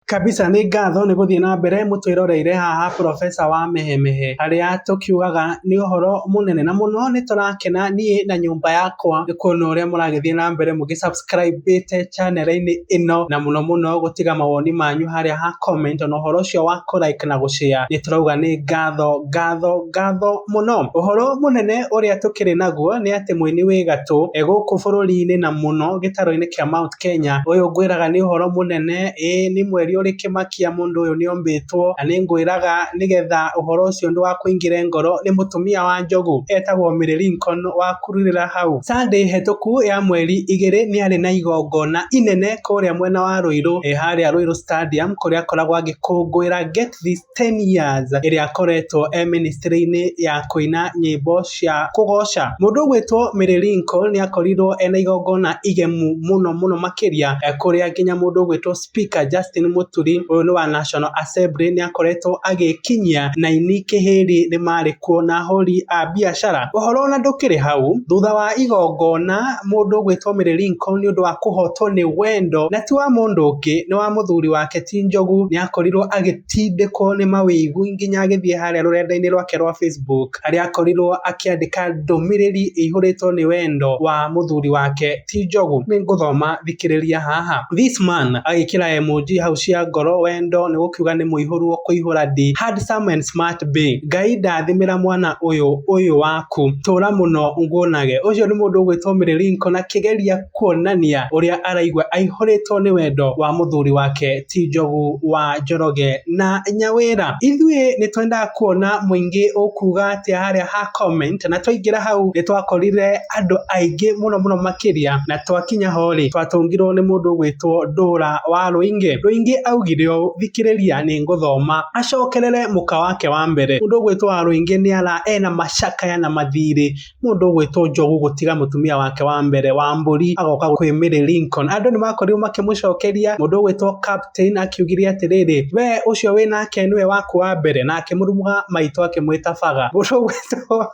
Kabisa nĩ ngatho nĩ gũthiĩ na mbere mũtwĩroreire haha professor wa mehemehe harĩa tũkiugaga nĩ ũhoro mũnene na mũno nĩ tũrakena niĩ na nyũmba yakwa nĩ kuona ũrĩa mũragĩthiĩ na mbere mũgĩ subscribe te channel inĩ ĩno na mũno mũno gũtiga mawoni manyu harĩa ha comment ona ũhoro ũcio wa kũ like na gũ share nĩ tũrauga nĩ ngatho ngatho ngatho mũno. Ũhoro mũnene ũrĩa tũkĩrĩ naguo nĩ atĩ mũini wĩ gatũ gũkũ bũrũri-inĩ na mũno gĩtaro-inĩ kĩa Mt. Kenya. Ũyũ ngwĩraga nĩ ũhoro mũnene, ĩĩ nĩ mweri ũrĩ kĩmakia mũndũ ũyũ nĩ ombĩtwo, na nĩ ngwĩraga nĩgetha ũhoro ũcio ndũgakũingĩre ngoro, nĩ mũtumia wa njogu etagwo Mary Lincoln wa Kururĩra hau. Sunday hĩtũku ya mweri igĩrĩ nĩ arĩ na igongona inene kũrĩa mwena wa Rũirũ, harĩa Rũirũ Stadium kũrĩa akoragwo agĩkũngũĩra Get This. 10 years ĩrĩa akoretwo e mĩnĩstrĩ-inĩ ya kũina nyĩmbo cia kũgoca. Mũndũ ũgwĩtwo Mary Linko nĩakorirwo ena igongona igemu mũno mũno makĩria kũrĩa nginya mũndũ ũgwĩtwo speaker Justin Mũturi ũyũ nĩ wa National Assembly nĩakoretwo agĩkinyia na aini kĩhĩri nĩmarĩ kuo na ahũri a biacara. Ũhoro ona ndũkĩrĩ hau, thutha wa igongona mũndũ ũgwĩtwo Mary Linko nĩũndũ wa kũhotwo nĩ wendo na ti wa mũndũ ũngĩ nĩ wa mũthuri wake ti Njogu nĩa... akorirwo agĩtindĩkwo nĩ mawĩigwi nginya agĩthiĩ harĩa rũrenda-inĩ rwake rwa Facebook harĩa akorirwo akĩandĩka ndũmĩrĩri ĩihũrĩtwo nĩ wendo wa mũthuri wake ti Njogu. Nĩ ngũthoma thikĩrĩria haha. This man agĩkĩra emoji hau cia ngoro wendo nĩ gũkiuga nĩ mũihũru wa kũihũra ndi. Handsome and smart be. Ngai ndathimĩra mwana ũyũ ũyũ waku. Tũra mũno nguonage. Ũcio nĩ mũndũ ũgwĩtwo Mirilinko na kĩgeria kuonania ũrĩa araigua aihũrĩtwo nĩ wendo wa mũthuri wake ti Njogu wa Njoroge na Nyawĩra. Ithuĩ nĩ twendaga kuona mũingĩ ũkuga atĩa harĩa ha comment, na twaingĩra hau nĩ twakorire andũ aingĩ mũno mũno makĩria, na twakinya ho rĩ twatũngirwo nĩ mũndũ ũgwĩtwo Ndũra wa Rũingĩ. Rũingĩ augire ũũ, thikĩrĩria nĩ ngũthoma. Acokerere mũka wake wa mbere. Mũndũ ũgwĩtwo wa Rũingĩ nĩ ara ena macakaya na mathirĩ. mũndũ ũgwĩtwo Njogu gũtiga mũtumia wake wa mbere wa mbũri agoka kwĩ Mary Lincoln. Andũ nĩ makorirwo makĩmũcokeria, mũndũ ũgwĩtwo Captain akiugire atĩrĩrĩ, we ũcio wĩ nake nĩwe waku wa mbere, na akĩmũrumuga maitho akĩmwĩta baga. Mũndũ ũgwĩtwo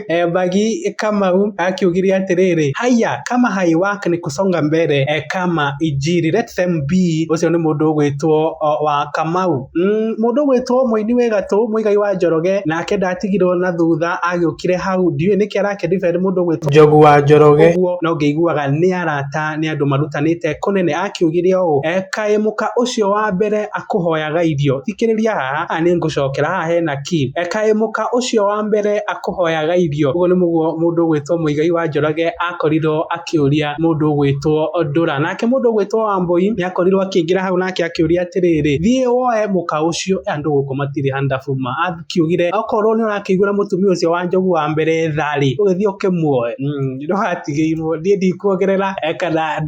eh, Mbagi Kamau akiugire atĩrĩrĩ, haya kama haiwak ni kusonga mbere eh, kama injiri let them be. Ũcio nĩ mũndũ ũgwĩtwo oh, wa Kamau. Mm, mũndũ gwĩtwo mũini wĩ gatũ mũigai wa njoroge nake ndatigirwo na thutha agĩũkire hau ndiũĩ nĩkĩ arake defend mũndũ gwĩtwo njogu wa njoroge ũguo no ngĩiguaga nĩ arata nĩ andũ marutanĩte kũnene akiugire ũũ "E, kaĩ mũka ũcio wa mbere akũhoyaga irio thikĩrĩria haha a nĩ ngũcokera haha hena ki "E, kaĩ mũka ũcio wa mbere akũhoyaga irio ũguo nĩ mũguo mũndũ gwĩtwo mũigai wa njoroge akorirwo akĩũria mũndũ ũgwĩtwo Ndũra. Nake mũndũ ũgwĩtwo Wambũi nĩakorirwo akĩingĩra hau nake akĩũria atĩrĩrĩ, thiĩ woe mũka ũcio, andũ gũkũ matirĩ handabu ma. Akiugire, okorwo nĩũrakĩiguĩra mũtumia ũcio wa njogu wa mbere tha-rĩ, ũgĩthiĩ ũkĩmuoe. Umm ndũgatigĩirwo. Niĩ ndikuongerera kana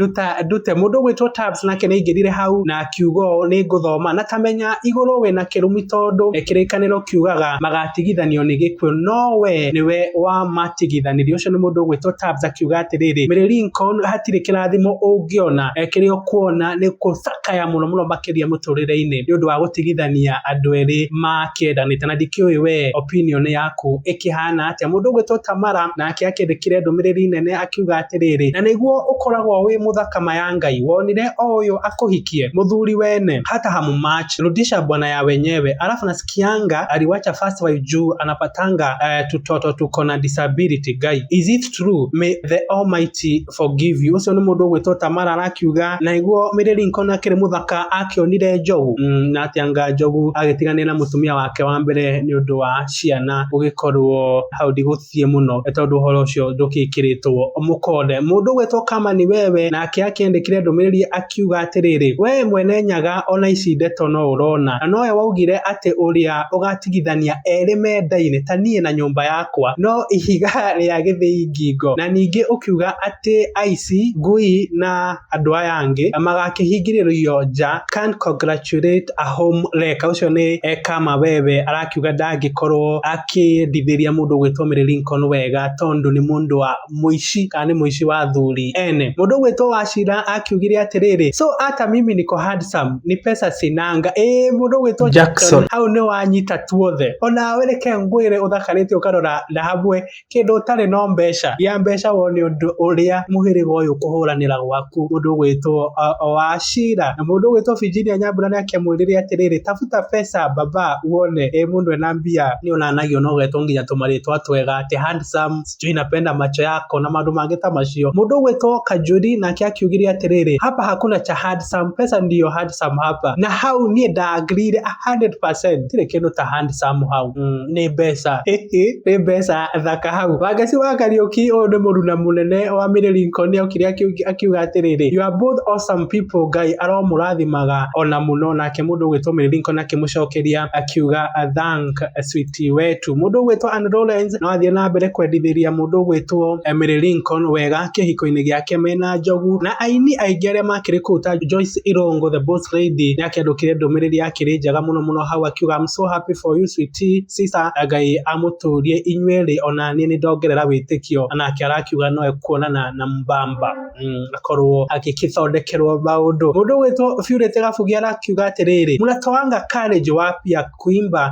ndute. Mũndũ ũgwĩtwo Taps nake nĩaingĩrire hau na. kiugo nĩ ngũthoma, na kamenya igũrũ wĩ na kĩrumi tondũ kĩrĩkanĩro kiugaga magatigithanio nĩ gĩkuũ, no we nĩwe wamatigithanirie. Ũcio nĩ mũndũ ũgwĩtwo Tabbs akiuga atĩrĩrĩ, Mary Lincoln hatirĩ kĩrathimo ũngĩona, kĩrĩa ũkuona nĩ gũcakaya mũno mũno makĩria mũtũrĩre-inĩ nĩ ũndũ wa gũtigithania andũ erĩ makĩendanĩte, na ndikĩũĩ we opinion yaku ĩkĩhana atĩa. Mũndũ ũgwĩtwo Tamara nake akĩndĩkire ndũmĩrĩri nene. akiuga atĩrĩrĩ, na nĩguo ũkoragwo wĩ mũthaka ma ya Ngai, wonire o ũyũ akũhikie? Mũthuri wene, hata hamu much, rudisha bwana ya wenyewe, alafu nasikianga aliwacha first wife juu anapatanga eh, tutoto tuko na disability Ngai. Is it true? May the almighty forgive you. Ũcio nĩ mũndũ ũgwĩtwo Tamara arakiuga, na nĩguo Mary Lincoln akĩrĩ mũthaka akĩonire njogu mm, na atĩ anga njogu agĩtiganĩra na mũtumia wake wa mbere nĩ ũndũ wa ciana gũgĩkorwo hau ndigũ ciĩ mũno tondũ ũhoro ũcio ndũkĩkĩrĩtwo mũkonde. Mũndũ ũgwetwo kama nĩ wewe nake akĩandĩkire ndũmĩrĩri akiuga atĩrĩrĩ, we mwene nyaga ona ici ndeto no ũrona na nowe waugire atĩ ũrĩa ũgatigithania erĩ mendaine ta niĩ na nyũmba yakwa no ihiga rĩa gĩthĩi ngingo na ningĩ ũkiuga atĩ aici, ngui na andũ aya angĩ na magakĩhingĩrĩrio nja can't congratulate a home wrecker ũcio nĩ eka mawebe arakiuga ndangĩkorwo akĩendithĩria mũndũ gwĩtwo Mary Lincoln wega tondũ nĩ mũndũ wa mũici kana nĩ mũici wa thuri ene mũndũ gwĩtwo Wachira akiugire atĩrĩrĩ so hata mimi niko handsome ni pesa sinanga ĩĩ mũndũ gwĩtwo Jackson hau nĩ wanyita tuothe ona wereke ngwĩre ũthakarĩte ũkarora na hamwe Kĩndũ ũtarĩ no mbeca. Gĩa mbeca wone ũndũ ũrĩa mũhĩrĩga ũyũ ũkũhũranĩra gwaku. Mũndũ ũgwĩtwo Wachira. Na mũndũ ũgwĩtwo Virginia Nyambura nĩ akĩmwĩrĩre atĩrĩrĩ, tafuta pesa baba wone mũndũ ena mbia. Nĩ onanagio na ũgetwo nginya tũmarĩtwa twega atĩ handsome, sijui napenda macho yako na maũndũ mangĩ ta macio. Mũndũ ũgwĩtwo Kanjuri nake akiugire atĩrĩrĩ, hapa hakuna cha handsome, pesa ndio handsome hapa. Na hau niĩ nda agree ire a hundred percent. Gũtirĩ kĩndũ ta handsome hau. nĩ mbeca. Hĩhĩ, nĩ mbeca thaka hau. Wangeci wa Kariũki, ũyũ nĩ mũruna mũnene wa Mary Lincoln nĩokire akiuga atĩrĩrĩ, You are both awesome people, Ngai aromũrathimaga ona mũno. Nake mũndũ ũgwĩtwo Mary Lincoln akĩmũcokeria akiuga, Thank sweetie wetu. Mũndũ ũgwĩtwo Anne Lawrence no athiĩ na mbere kwendithĩria mũndũ ũgwĩtwo Mary Lincoln wega kĩhiko-inĩ gĩake mena njogu. Na aini aingĩ arĩa makĩrĩ kũu ta Joyce Irongo, the boss lady, nĩakĩandũkire ndũmĩrĩri yake. kĩrĩ njega mũno mũno hau akiuga I'm so happy for you sweetie sister Ngai amũtũrie inyuerĩ ona niĩ nĩndongerera wĩtĩkio anake arakiuga noe kuonana na mbamba mm, akorwo agĩkĩthondekerwo maũndũ mũndũ gwĩtwo biurĩte gabugia arakiuga atĩrĩrĩ mnatoanga courage wapia kuimba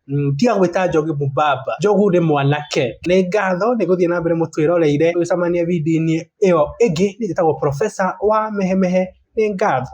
Mm, tiga gwĩta njogu mũbaba njogu nĩ mwanake nĩ ngatho nĩ gũthiĩ na mbere mũtwĩroreire tũgĩcemania video-inĩ ĩyo ĩngĩ nĩ njĩtagwo profesa wa mehemehe nĩ ngatho